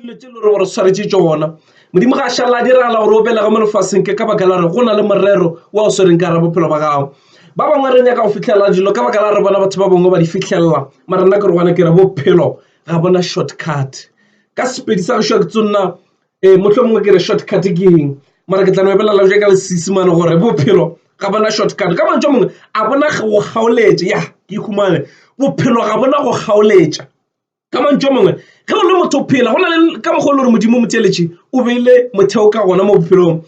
dilo tse lore gore tshwaretse tsona modimo ga a šala a diragala gore o belega mo lefaseng ke ka baka la re go na le morero wa o swereng ka ra bophelo ba gago ba bangwe re nyaka go fitlhelela dilo ka baka la re bona batho ba bangwe ba di fitlhelela mara nna ke re gona ke re bophelo ga bona shortcut ka sepedi sa gešwa ke tsonna um eh, motlho mongwe ke re shortcut ke eng mara ke tla no ebelela ja ka lesesimane gore bophelo ga bona shortcut ka mantso mongwe a bona go kgaoletša ya ke ikhumane bophelo ga bona go kgaoletša ka mantšu a mangwe ge o le motho o phela go na le ka mokgwa e le gore modimo moteletše o beile motheo ka gona mo bophelong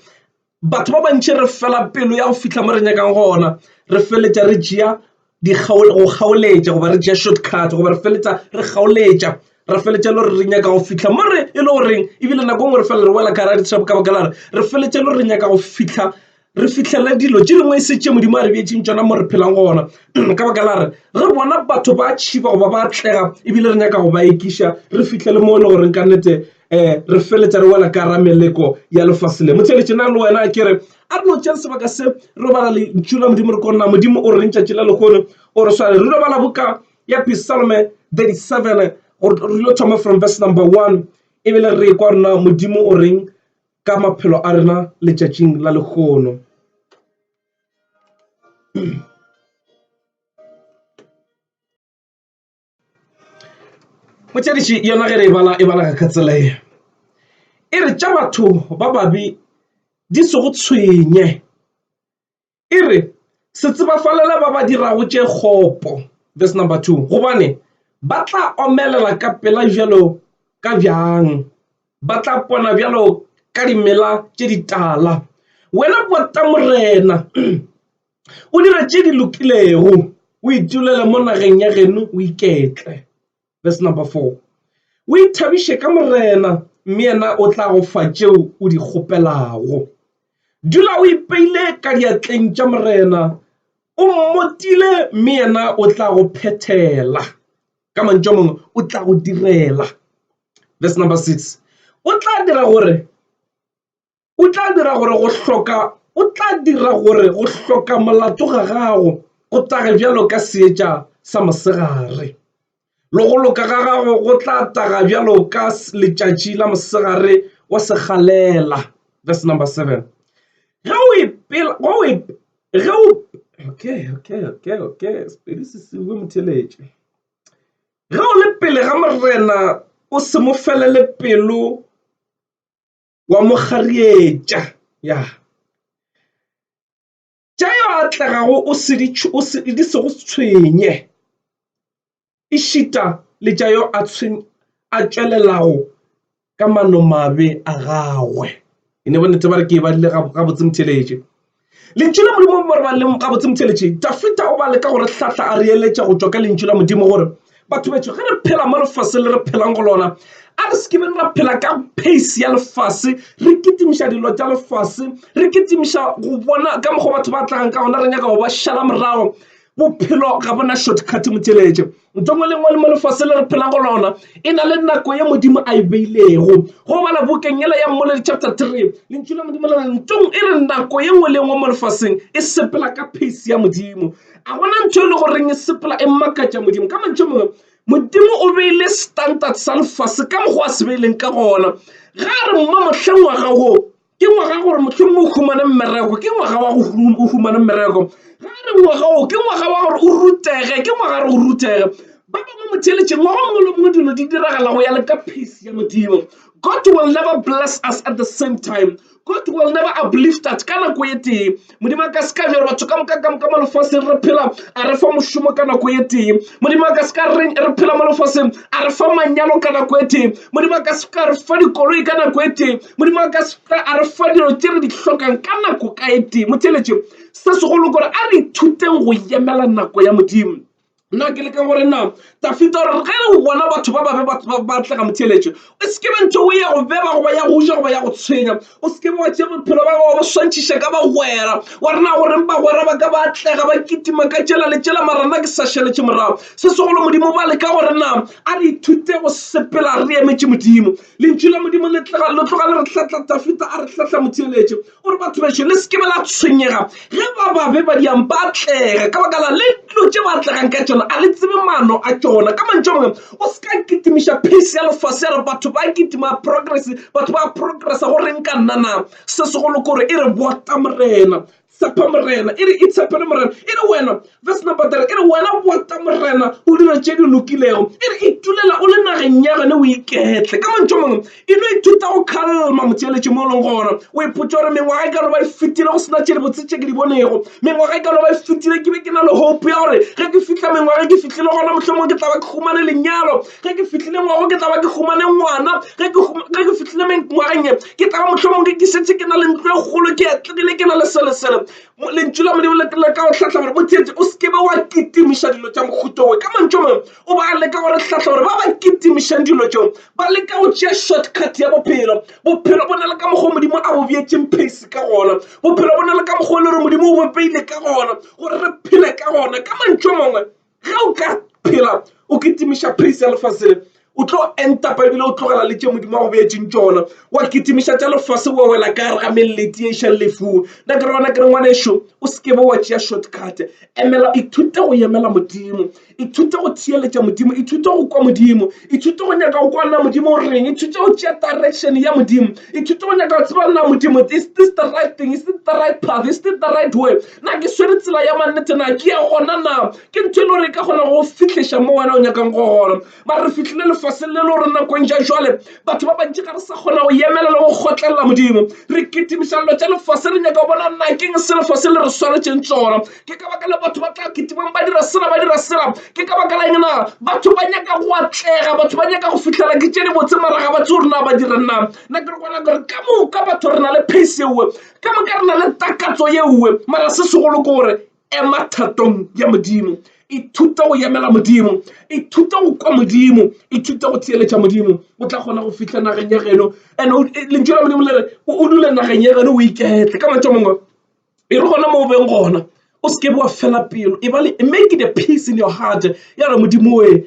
batho ba bantši re fela pelo ya go fitlha mo re nyakang gona re feletša re tšea go kgaoletša goba re tšea short cut goba re feletsa re kgaoletša re feletša le gore re nyaka go fitlha mo re e le goreng ebile nako ngwe re fela re wela ka gara ditšhabo ka baka la re re feletša le gore re nyaka go fitlha re fihlele dilo tše dingwe e se tše modimo a re beetseng tšona mo re phelang gona ka baka la re re bona batho ba tšhiba goba ba tlega ebile re nyaka go ba ekiša re fihlele mo e le goreng ka nnete um re feletsa re wela ka ra meleko ya lefase le motheletše na le wena ke re a re no tšea sebaka se re bala lentšu la modimo re konna modimo o reng tšatši la lekgono o re swale re lo bala boka ya pisalme 37 re lo thoma from verse number one ebile re kwa rena modimo o reng ka maphelo a rena letšatšing la lekgono. motšadiši yona ge re e bala e bala ka tsela e e re tša batho ba babi di se go tshwenye e re se tsebafalela ba ba dirago tše kgopo, verse number 2, gobane ba tla omelela ka pela bjalo ka bjang, ba tla pona bjalo ka dimela tše ditala. Wena pota Morena, o dira tše di lokilego, o itulele mo nageng ya geno o iketle. Verse number 4 O ithabiše ka Morena, mme yena o tla go fa tšeo o di kgopelago. Dula o ipeile ka diatleng tša Morena, o mmotile, mme yena o tla go phethela. Ka mantšu a mangwe, o tla go direla. Verse number 6 O tla dira gore o tla dira gore go hloka o tla dira gore go hloka molato ga gago go tage bjalo ka seetša sa mosegare le go loka ga gago go tla taga bjalo ka letšatši la mosegare wa segalela verse number seven ge o ipela go e ge o okay okay okay okay sepedi se se bue motheletše ge o le pele ga morena o se mo felele pelo wa mo kgarietša ya tša yo atlegago o di sego tshwenye e šita le tša yo a a tšwelelago ka manomabe a gagwe e ne bonnete ba re ke e badile gabotse motheeletše. Lentšu la Modimo mo re baleng gabotse motheletši. Dafita o ba leka go re hlatla a re eletša go tšwa ka Lentšu la Modimo gore batho betšo ge re phela mo lefaseng le re phelang go lona a re sekibeng ra phela ka pace ya lefase re kitimiša dilo tša lefase re kitimiša go bona ka mokgwa batho ba tlagang ka gona re nyaka go ba šala morago bophelo ga bona shortcut motheletše Ntho ngwe le ngwe le mo lefase le re phela go lona e na le nako ye modimo a e beilego go bala bukeng yela ya mmoledi chapter 3 lentšu la modimo le ntong e re nako ye nngwe le nngwe mo lefaseng e sepela ka pace ya modimo a gona ntho e le goreng e sepela e makatša modimo ka mantšho mongwe modimo o beile standard sa lefase ka mokgwa a se beileng ka gona ga re mma mohleng wa gago ke ngwaga gore mohlomong o humane mmereko ke ngwaga wa go humane mmereko ga re ngwaga o ke ngwaga wa gore o rutege ke ngwaga gore o rutege ba bangwe motheletšeng ngwaga mongwe le mongwe dilo di diragala go ya le ka peace ya modimo god will never bless us at the same time god will never uplift us ka nako e tee modimo a ka se ka bjalo batho ka moka ka moka mo lefaseng re phela a re fa mošomo ka nako e tee modimo a ka se ka re re phela mo lefaseng a re fa manyalo ka nako e tee modimo a ka se ka re fa dikoloi ka nako e tee modimo a ka se ka a re fa dilo tše re di hlokang ka nako ka e tee motheletše se segolo kore a re ithuteng go yemela nako ya modimo Nna ke leka gore na Dafita gore ge o bona batho ba babe ba tla ka motheeletše o se ke be ntho o ya go beba goba ya go ja goba ya go tshwenya o se ke be wa tšea bophelo ba gago ba swantšhiša ka bagwera wa rena goreng bagwera ba ka ba atlega ba kitima ka tšela le tšela mara nna ke sa šeletše morago se segolo modimo ba leka gore na a re ithute go sepela re emetše modimo lentšu la modimo le tloga le re hlatla Dafita a re hlatla motheeletše gore batho bešo le se ke be la tshwenyega ge ba babe ba diang ba tlega ka baka la le dilo tše ba tlegang ka tšona a le tsebe mano a tšona ka mantšho mangwe o se ka kitimiša pace ya lefase ya re batho ba kitima progress batho ba progressa go reng ka nna na se segolo kore e re bota morena tshepa morena e re itshepele morena e re wena Verse number 3 e re, Wena bota, Morena, o dira tše di lokilego. E re, Itulela o le nageng ya gane o iketle. Ka mantšho mangwe, e no ithuta go kgalma motheeletši mo o leng gona. O ipotsa gore mengwaga e ka no ba e fetile go sena tše dibotse tše ke di bonego. Mengwaga e ka no ba e fetile ke be ke na le hope ya gore ge ke fitlha mengwaga ke fitlhile gona mohlomong ke tla ba ke humane lenyalo. Ge ke fitlhile ngwago ke tla ba ke humane ngwana. Ge ke fitlhile mengwageng ke tla ba mohlomong ke ke setse ke na le ntlo e kgolo ke atlegile ke na le selesele. lentšu la modimo le ka go hlahla gore botsetse o sekebe wa kitimiša dilo tša mokhutowe ka mantšo mangwe o ba leka gore hlahla gore ba ba kitimišang dilo tšeo ba leka go tšea shortcut ya bophelo bophelo bo na le ka mokgwa o modimo a bobeetseng pace ka gona bophelo bo na le ka mokgwa o le gore modimo o bopeile ka gona gore re phele ka gona ka mantšo mangwe ge o ka phela o kitimiša phase ya lefase le o tlo entapa ebile o tlogela le tše modimo wa go beetseng tšona wa kitimiša tša lefase wa wela ka gare ga melleti e išang lefung nna ke re gona ke re ngwana ešo o se ke be wa tšea shortcut emela ithute go emela modimo ithute go theeletša modimo ithute go kwa modimo ithute go nyaka go kwa nna modimo o reng ithute go tšea direction ya modimo ithute go nyaka go tseba nna modimo is this the right thing is this the right path is this the right way Na ke swere tsela ya mannete? Na ke ya gona? Na ke ntho e le gore e ka kgona go fihleša mo wena o nyakang go gona? Ba re fihlile lefaseng le le gore nakong ja jwale batho ba bantši ga re sa kgona go yemela le go kgotlelela Modimo. Re kitimiša dilo tša lefase, re nyaka go bona na keng se lefase le re swaretšeng tsona. Ke ka baka la batho ba tla kitimang ba dira sela, ba dira sela. Ke ka baka la eng na? Batho ba nyaka go atlega, batho ba nyaka go fihlela ke tše di botse mara ga ba tse gore na ba dirang na. Na ke re gona gore ka moka batho re na le pace eo, Ka moka re na le takatso ye nngwe, mara se segolo ke gore ema thatong ya Modimo. Ithuta go yemela Modimo, ithuta go kwa Modimo, ithuta go theeletša Modimo. O tla kgona go fihla nageng ya geno. And lentšu la Modimo le re o dule nageng ya geno o iketle. Ka mantšu a mangwe, e re gona mo o beng gona o se ke wa fela pelo, e ba le make the peace in your heart ya re Modimo oe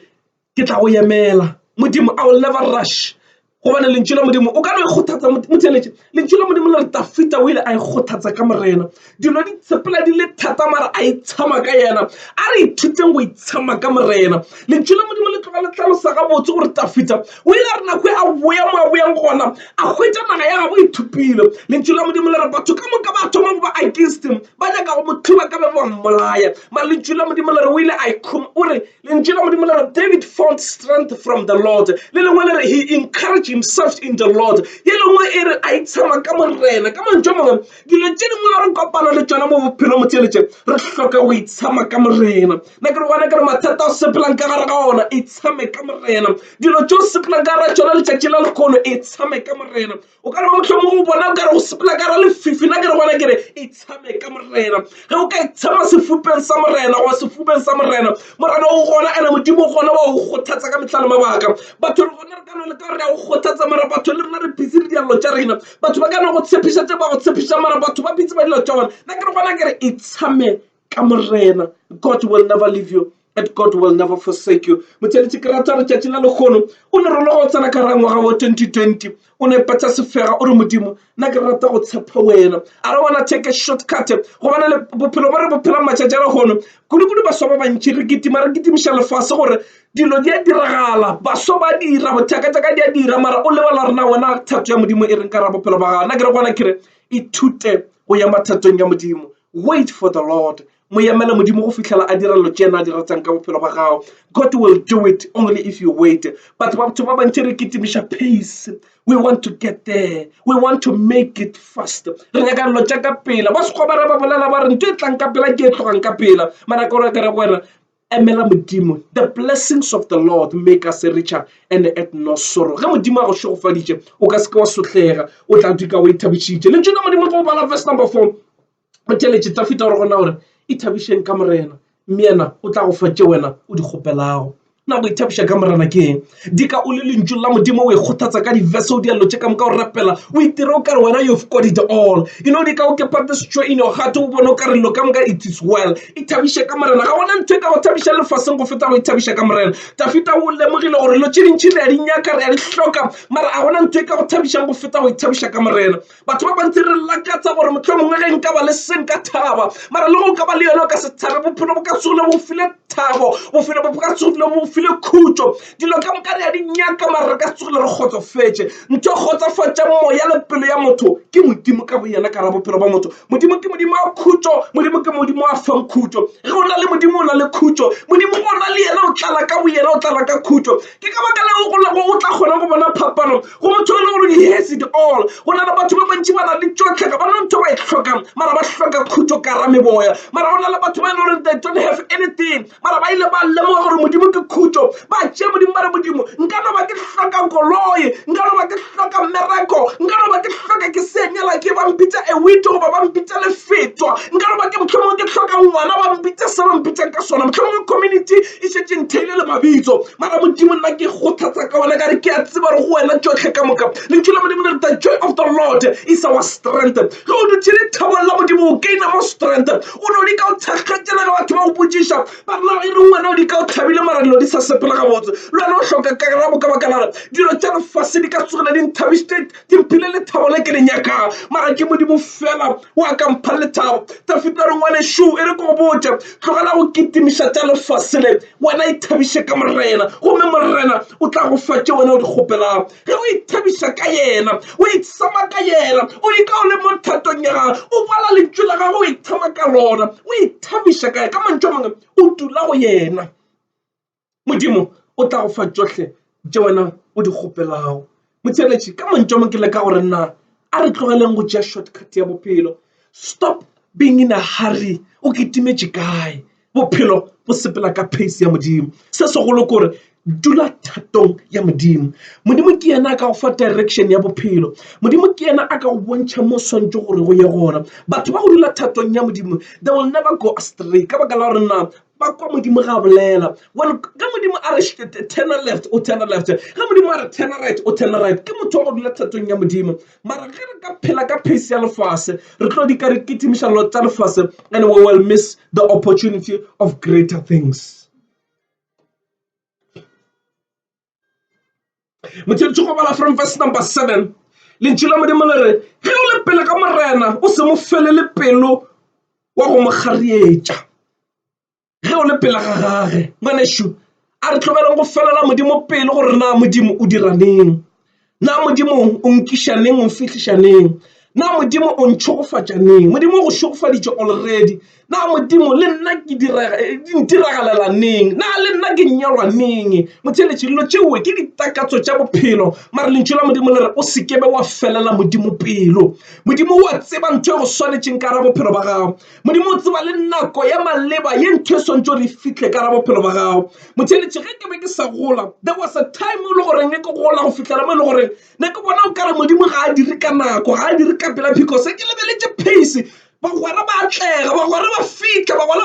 ke tla go yemela modimo i will never rush gobane lentšu la modimo o ka no e kgothatsa motheletše lentšu la modimo le re tafita o ile a e kgothatsa ka morena dilo di tsepela di le thata mara a itshama ka yena a re ithuteng go itshama ka morena lentšu la modimo le tloga le tlalosa gabotse gore tafita o ile a re nako e a boya mo a boyang gona a hwetša naga ya gabo ithupile lentšu la modimo le re batho ka moka ba thoma go ba against him ba nyaka go mo thuba ka be ba mmolaya malentšu la modimo le re o ile a o re Lentšu la Modimo le re, David found strength from the Lord. Le lengwe le re, he encouraged himself in the Lord. Ye lengwe e re, a itshama ka Morena. Ka mantšu a mangwe, dilo tše dingwe le re kopana le tšona mo bophelo motšeletše, re hloka go itshama ka Morena. Na ke re gona ke re mathata o sepelang ka gare ga ona, itshame ka Morena. Dilo tšeo sepelang ka gare tšona letšatši la lekgono, itshame ka Morena. o ka re ba motlhomo go bona o kare go sepela ka ra lefifi la ke re gona ke re e tshame ka morena ge o ka e tshama sefupeng sa morena goba sefubeng sa morena morena o gona ene modimo o gona wa go kgothatsa ka metlha le mabaka batho re gona re ka no le ka re ya go kgothatsa mara batho le rena re busy le dialelo tša rena batho ba ka no go tshepiša tse ba go tshepiša mara batho ba bitse ba dilo tša bona nna ke re gona ke re e tshame ka Morena. God will never leave you and God will never forsake you. Motheletše ke rata re tšatši la lekgono o ne rolo go tsena ka ra ngwaga wa 2020 o ne patša sefega o re modimo nna ke rata go tshepa wena a re wana take a short cut gobana le bophelo ba re bophela matšatši a lekgono kudu-kudu baswa ba bantši re kitima re kitimiša lefase gore dilo di a diragala baswa ba dira bothaka tsaka di a dira mara o lebala rena wena thato ya modimo e reng ka ra bophelo ba gago nna ke re gona ke re ithute go ya mathatong ya modimo Wait for the Lord. Mo yemele Modimo go fihlela a dira lo tšena a di ratang ka bophelo ba gago. God will do it only if you wait. Batho ba batho ba bantši re kitimiša pace. We want to get there. We want to make it fast. Re nyaka lo tša ka pela. Ba sekgobara ba bolela ba re ntho e tlang ka pela ke e tlogang ka pela. Mara ka gore ka re go wena Emela Modimo, the blessings of the Lord make us richer and add no sorrow. Ge Modimo a go šegofaditše, o ka se ke wa sotlhega, o tla dika o ithabišitše. Lentšu la Modimo go bala verse number four, o theletše Dafita gore gona gore ithabišeng ka Morena, mme yena o tla go fa tše wena o di kgopelago. Na go ithabiša ka Morena ke eng? dika o le lentšu la modimo o e kgothatsa ka diverse o dialelo tše ka moka o rapela o itira o kare wena you've got it all you know dika o kepatisitswe in your heart o bone o ka rello ka moka it is well e thabiše ka morena ga gona ntho e ka go thabiša lefaseng go feta go ithabiša ka morena tafita o lemogile gore lo tše dintšhi le ya di nyaka re ya di hloka mara ga gona ntho e ka go thabišang go feta go ithabiša ka morena Batho ba bantsi re lakatsa gore mohlomongwe ge nka ba le se nka thaba, mara le go ka ba le yone o ka se thabe. Bophelo bo ka tsogile bo file thabo, bophelo bo ka tsogile bo file khutšo. Dilo ka moka re a di nyaka, mara re ka tsogile re kgotsofetše. Ntho e kgotsofatšang moya le pelo ya motho ke Modimo ka boyena ka ra bophelo ba motho. Modimo ke Modimo wa khutšo, Modimo ke Modimo wa fang khutšo. Ge o na le Modimo o na le khutšo, Modimo o na le yena o tlala ka boyena, o tlala ka khutšo. Ke ka baka leo o tla kgona go bona phapano. Go motho e le gore he has it all. Go na le batho ba bantši ba na le tšohle, ga ba na ntho ba e hlokang, mara ba hloka khutšo ka ra meboya. Mara go na le batho ba e le gore they don't have anything, mara ba ile ba lemoga gore Modimo ke khutšo. Ba tšea Modimo ba re, Modimo, nka no ba ke hloka koloi, nka no ba ke hloka mmereko, nka no ba ke hloka ke se nyala ke ba mpitša a widow goba ba mpitša lefetwa, nka no ba ke mohlomongwe ke hloka ngwana ba mpitša se ba mpitšang ka sona, mohlomongwe community E šetše ntheile le mabitso. Mara Modimo nna ke kgothatsa ka wena ka re ke a tseba gore go wena tšohle ka moka. Lentšu la Modimo le re the joy of the Lord is our strength. Ge o dutše lethabong la Modimo o gaina mo strength. O no di ka o thakgatšela ge batho ba go botšiša ba re na e reng wena o di ka o thabile mara dilo di sa sepela gabotse. Le wena o hloka karabo ka baka la gore dilo tša lefase di ka tsogile di nthabisitše. Ke mphile lethabo le ke le nyakang, mara ke Modimo feela o a ka mpha lethabo. Dafida a re, Ngwanešu, e re ke go botše, tlogela go kitimiša tša lefase le, wena ithabiše ka Morena, gomme Morena o tla go fa tše wena o di kgopelago. Ge o ithabiša ka yena, o ithsama ka yena, o ika o le mo thatong ya gagwe, o bala lentšu la gagwe, o ithama ka lona, o ithabiša ka yena, ka mantšu a mangwe, o dula go yena. Modimo o tla go fa tšohle tše wena o di kgopelago. Motheeletši, ka mantšu a mang ke leka go re na a re tlogeleng go tšea shortcut ya bophelo. Stop being in a hurry. O kitimetše kae? Bophelo bo sepela ka pace ya Modimo. Se segolo ke gore dula thatong ya Modimo. Modimo ke yena a ka go fa direction ya bophelo. Modimo ke yena a ka go bontšha mo o swantše gore go ye gona. Batho ba go dula thatong ya Modimo, they will never go astray ka baka la gore na ba kwa Modimo ga bolela one ka Modimo a re turn left o turn left ga Modimo a re turn right o turn right ke motho wa go dula thatong ya Modimo mara ge re ka phela ka pace ya lefase re tlo di ka re kitimiša lo tsa lefase and we will miss the opportunity of greater things motheletse go bala from verse number seven lentši la modimo le re ge o le pele ka morena o se mo felele pelo wa go mo kgarietša ge o le pele ga gage ngwanešu a re tlogeleng go felela modimo pelo gore na modimo o dira neng Na Modimo o nkiša neng, o nfihliša neng? Na Modimo o ntšhogofatša neng? Modimo o go šogofaditše already. Na Modimo le nna ke ntiragalela neng? Na le nna ke nyalwa neng? Motheletši, dilo tšeo ke ditakatso tša bophelo, mara lentšu la Modimo le re o se kebe wa felela Modimo pelo. Modimo o a tseba ntho e go swanetšeng ka ra bophelo ba gago. Modimo o tseba le nako ya maleba ye ntho e swantšo re fihle ka ra bophelo ba gago. Motheletši, ge ke be ke sa gola, there was a time o le goreng ne ke gola go fihlela mo e le goreng ne ke bona o ka re Modimo ga a dire ka nako, ga a dire ka pela because ke lebeletše pace. Bagwera ba atlega, bagwera ba fihla, bagwera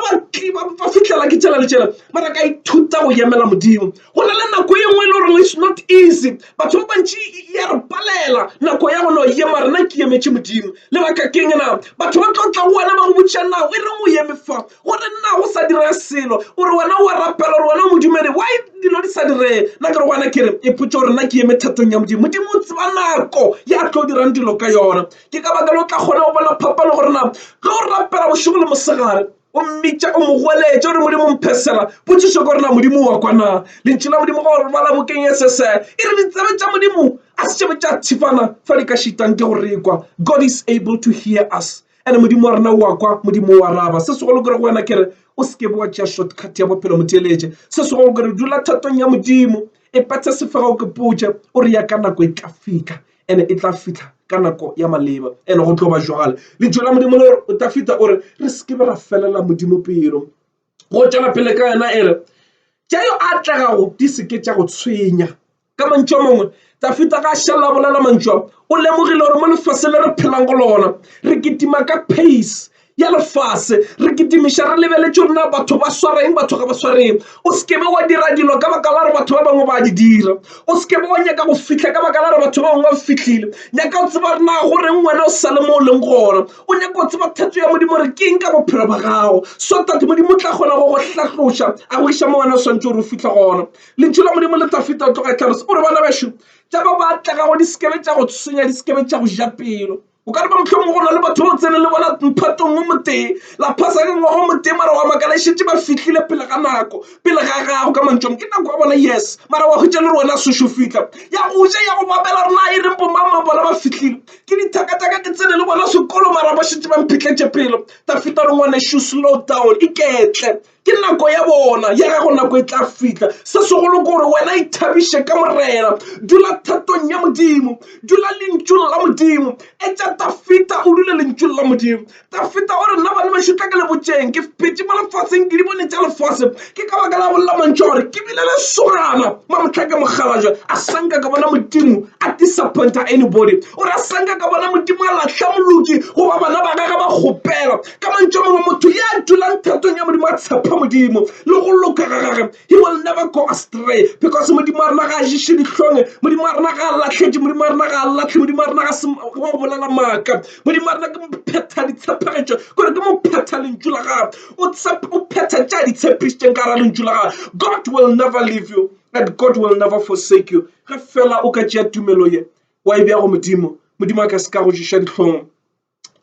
ba fihlela ke tšela le tšela. Mara ka ithuta go yemela Modimo. Go na le nako e nngwe e le gore it's not easy batho ba bantši ya re palela nako ya gona ye mare na ke emetše modimo lebaka keng na batho ba tlo tla go wena ba go botšiša nago e reng o eme fa gore nna go sa direga selo gore wena wa rapela gore wena o modumedi wa dilo di sa direge nna ke re gona ke re e potse gore nna ke eme thatong ya modimo modimo o tseba nako ya tlo dirang dilo ka yona ke ka baka le o tla kgona go bona phapano gore na tlo rapela bošego le mosegare o mmitša o mo goeletša gore modimo mphesela potšišo ka gorena modimo wa kwana lentši la modimo go bala bokeng e sese e re ditsebe tša modimo a se tšebe tša thifana fa di ka šitang ke go rekwa god is able to hear us ande modimo wa rena wa kwa modimo wa raba se segolo kere go wena ke re o se ke bo wa tšea shortcut ya bophelo motheeletše se segolo kere dula thatong ya modimo e pathe sefega o ke potše o re ya ka nako e tla fika ene e tla fihla ka nako ya maleba ene go tlo ba jwale le tšwela modimo le gore o tla fihla o re re se ke be ra felela modimo pelo go tšwela pele ka yena e re tša yo a tlegago di se ke tša go tshwenya ka mantšu a mangwe tafita ga a šalela bolela mantšu a o lemogile gore mo lefase le re phelang go lona re kitima ka pace ya lefase re kitimiša re lebeletše gore na batho ba swareng batho ga ba swareng o se kebe wa dira dilo ka baka la gore batho ba bangwe ba di dira o se kebe wa nyaka go fitlha ka baka la gore batho ba bangwe ba fitlhile nyaka o tseba re na go reng wena o sa le mo o leng gona o nyaka go tseba thatso ya modimo re keng ka bophelo ba gago so tate modimo tla kgona go go hlatloša a go iša mo wena o swantse gore o fitlhe gona lentšu la modimo le tla feta o tloga e tlhalosa o re bana bešo tša ba ba tla gago di sekebe tša go tshwenya di sekebe tša go ja pelo o ka leba mohlomong go na le batho ba o tsene le bona mphatong o motee la phasa ka ngwaga o motee mara wa makala e šetse ba fitlhile pele ga nako pele ga gago ka mantšong ke nako ya bona yes mara wa hwetša le re wena sešo fitlha ya go ja ya go babela rena e reng bomama bona ba fitlhile ke dithakataka ke tsene le bona sekolo mara ba šetse ba mphitlhetše pelo tafita re ngwane shoe slow down iketle ke nako ya bona ya gago nako e tla fihla se segolo ke gore wena ithabiše ka morena dula thatong ya modimo dula lentšung la modimo e tša tafita o dule lentšung la modimo tafita o re nna bane ba šutla ke lebotšeng ke phetše mo lefaseng ke di bone tša lefase ke ka baka la bolela mantšho gore ke bile le sogana ma motlha ke mokgalajwa a sanka ka bona modimo a disappointa anybody o re a sanka ka bona modimo a lahla moloki goba bana ba gage ba kgopela Ka mantšu a mangwe, motho ya dulang thatong ya Modimo a tshepa Modimo le go loka ga gage, he will never go astray because Modimo wa rena ga a ješe dihlong, Modimo wa rena ga a lahletše, Modimo wa rena ga a lahle, Modimo wa rena ga se wa go bolela maaka, Modimo wa rena ke mophetha ditshepegetšo, kore ke mophetha lentšu la gage, o phetha tša di tshepišitšeng ka gara lentšu la gage. God will never leave you and God will never forsake you. Ge fela o ka tšea tumelo ye wa e bea go Modimo, Modimo a ka se ka go ješa dihlong.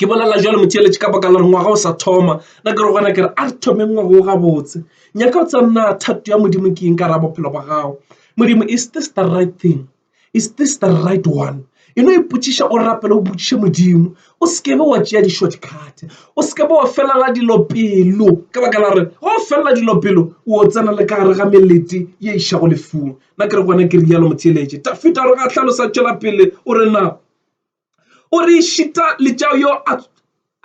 Ke bolela bjalo motheeletši ka baka la gore ngwaga o sa thoma na ke re gona ke re a re thomeng ngwaga o gabotse nyaka o tsa nna thato ya modimo ke eng ka ra bophelo ba gago modimo is this the right thing is this the right one e no ipotšiša o rapela o botšiše modimo o se ke be wa tšea di-short cut o se ke be wa felela dilo pelo ka baka la gore go felela dilo pelo o tsena le ka gare ga melete ye išago lefung na ke re gona ke rialo motheeletši tafita gore ga hlalosa tšwela pele o re na O re išita le tša yo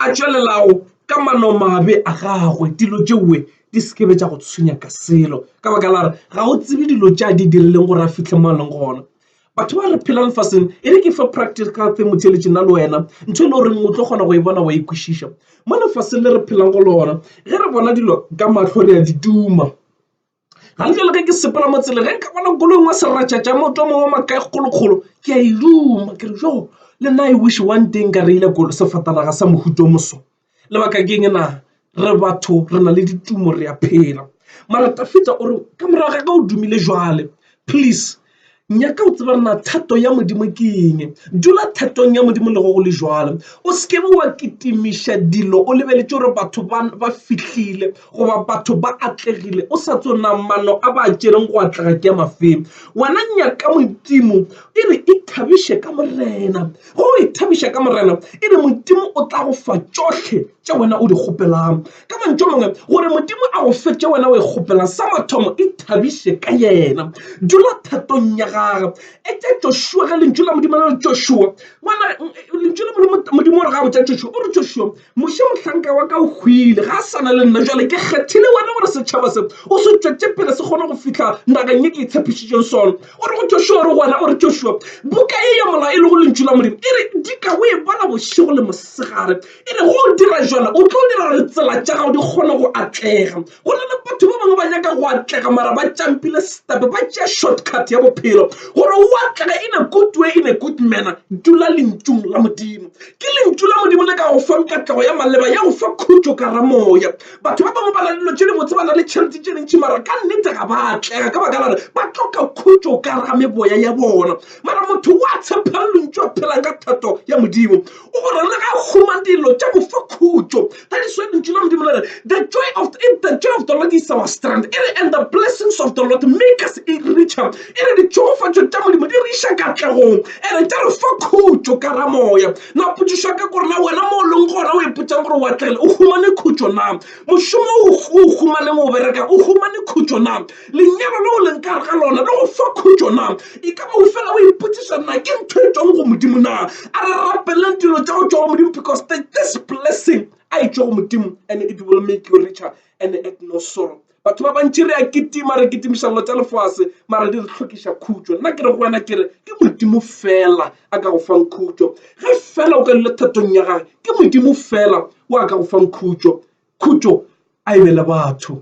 a tšwelelago ka manomabe a gagwe, dilo tšeoe di se ke be tša go tshwenya ka selo, ka baka la gore ga o tsebe dilo tše a di dirilego gore a fihle mo a lego gona. Batho ba re phela lefaseng e re ke fa practical tse mothelesi nna le wena ntho e le goreng o tlo kgona go e bona wa e kwešiša mo lefaseng le re phela go lona ge re bona dilo ka mahlo re a di tuma. Gantle le ge ke sepela mo tseleng ge nka bona koloi ngwe seretšatša motho mongwe wa makae kgolokgolo ke a e ruma ke re jo le nna e wish one day nka reile kolo sefatanaga sa mohuto moso. Lebaka ke eng na re batho re na le ditumo re a phela mara Tafita o re ka morago ga ka o dumile jwale please. nyaka o tseba na thato ya modimo ke eng dula thatong ya modimo le go go le jalo o se kebe wa kitimiša dilo o lebeletše gore batho ba fihlile goba batho ba atlegile o sa tsona mano a ba tšereng go atlega ke ya mafeng wena nyaka modimo e re e thabiše ka morena go e thabiša ka morena e re modimo o tla go fa tšohle tša wena o di kgopelang Ka mantšu a mangwe, gore Modimo a go fetše wena o e kgopela, sa mathomo ithabiše ka Yena. Dula thatong ya Gagwe. Etša Joshua, ge Lentšu la Modimo le re, Joshua, ngwana, Lentšu la Modimo, Modimo o re ga a botša Joshua, o re, Joshua, Moshe mohlanka wa ka o hwile, ga a sa na le nna, bjale ke kgethile wena gore setšhaba se o se tšwetše pele se kgone go fihla nageng ye ke e tshepišitšego sona. O re go Joshua, o re go wena, o re, Joshua, buka ye ya molao e lego Lentšu la Modimo e re, dika o e bala bošego le mosegare, E re go dira jalo o tlo dira gore tsela tša gago di kgone go atlega. Go na le batho ba bangwe ba nyaka go atlega mara ba tšampile setape ba tšea shortcut ya bophelo gore o atlega in a good way in a good manner dula lentšung la modimo ke lentšu la modimo le ka go fang katlego ya maleba ya go fa khutšo ka ramoya batho ba bangwe ba na le dilo tše di botse ba na le tšhelete tše dintši mara ka nnete ga ba atlega ka baka la gore ba tloka khutšo ka rameboya ya bona mara motho wa tshepha lentšu a phelang ka thato ya modimo O gore le ga huma dilo tša go fa khutšo. That is why lentšu la Modimo le re the joy of the, the joy of the Lord is our strength. E re and the blessings of the Lord make us richer. E re ditšhogofatšo tša Modimo di re iša katlegong ere tša re fa khutšo ka ra moya. Na potšišwa ka gore na wena mo o leng gona o ipotšang gore o atlegile o humane khutšo na? Mošomo o o humaneng o bereka o humane khutšo na? Lenyalo leo leng ka gare ga lona le go fa khutšo na? E ka ba o fela o ipotšiša na ke ntho e tšwago go Modimo na? A re rapeleng dilo tša go tšwa go Modimo because the, this blessing a e tšwa go Modimo and it will make you richer and at no sorrow. Batho ba bantši re a kitima re kitimiša dilo tša lefase mara di re tlhokiša khutšo. Nna ke re go wena ke re ke Modimo fela a ka go fang khutšo. Ge fela o ka dula thatong ya gage ke Modimo fela o a ka go fang khutšo. Khutšo a e be le batho.